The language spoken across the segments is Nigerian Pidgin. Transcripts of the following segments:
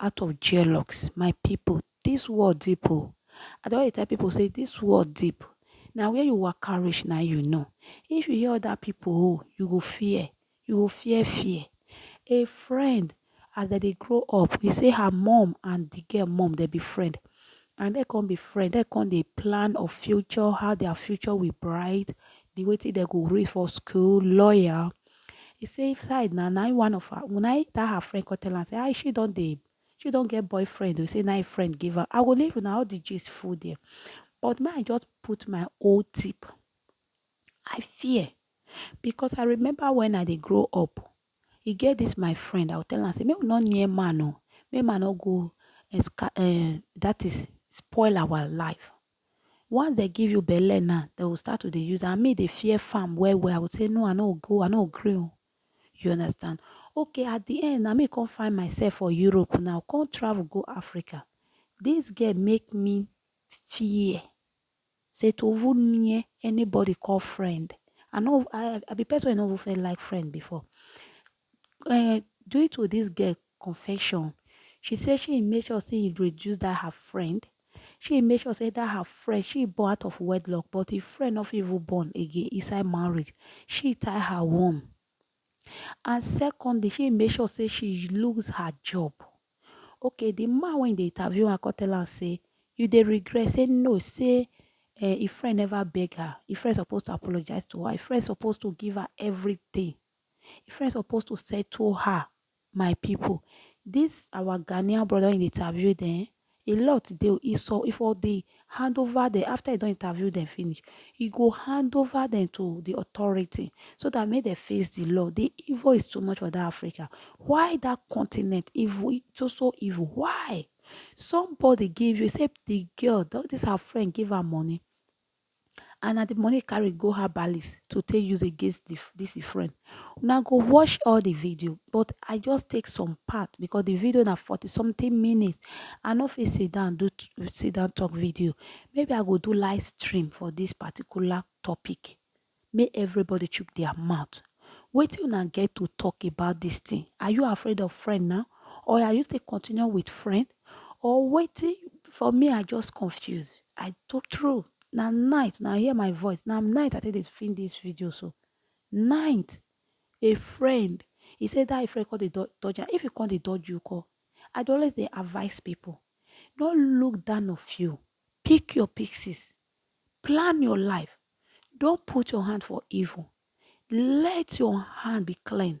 out of jealox my pipu dis world deep o I don dey tell pipu say dis world deep na where you waka reach na you know if you hear other pipu own you go fear you go fear fear a friend as dem dey grow up e say her mum and de girl mum dem be friend and dem come be friend dem come dey plan of future how their future will bright de wetin dem go read for school lawyer He say inside na na one of her na that her friend come tell am say ah she don dey she don get boyfriend o say na him friend give am I go leave una all the gist full there but may I just put my own tip I fear because I remember when I dey grow up e get this my friend I go tell am say make we no near man o make man no go um that is spoil our life Once dem give you belle na, dem go start to dey use and me dey fear farm well well. I go say no, I no go, I no gree o. You understand? Okay, at the end na me come find myself for Europe now, come travel go Africa. This girl make me fear say to even near anybody call friend. I no, I be person wey no even first like friend before. um due to this girl Confession, She say she e make sure say e reduce that her friend, she e make sure say that her friend she e born out of wedlock but e friend no fit even born again inside marriage, she e tie her womb and secondly she e make sure say she lose her job. Okay the man wey dey interview am come tell am say you dey regret say no say eh, e friend never beg her, e friend suppose to apologize to her, e friend suppose to give her everything, e friend suppose to settle her My people, this our Ghanaian brother wey dey interview dem, a lot dey. He so if all dey hand over them after he don interview them finish, he go hand over them to the authority so that make they face the law. The evil is too much for that Africa. Why that continent evil so so evil? Why? Somebody give you say the girl, this her friend give her money. and na the money carry go her balis to take use against the, this friend una go watch all the video but i just take some part because the video na 40 something minutes i no fit sit down do sit down talk video maybe i go do live stream for this particular topic make everybody chook their mouth wetin una get to talk about this thing are you afraid of friend now or are you still continue with friend or wetin for me I just confuse I to true na night una hear my voice na night I take dey film this video so night a friend he say that a friend come dey dodge am if he come dey dodge you come I dey always dey advise people no look down of you pick your pieces plan your life don't put your hand for evil let your hand be clean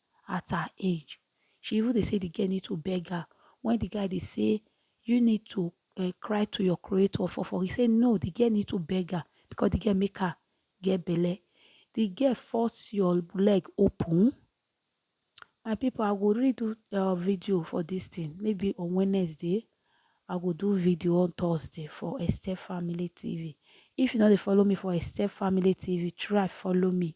at her age. She even dey say the girl need to beg her when the guy dey say you need to uh, cry to your creator for for. He say no, the girl need to beg her because the girl make her get belle. The girl force your leg open. My people, I go redo uh, video for this thing. Maybe on Wednesday, I go do video on Thursday for Esther Family TV. If you know they follow me for Esther Family TV, try follow me.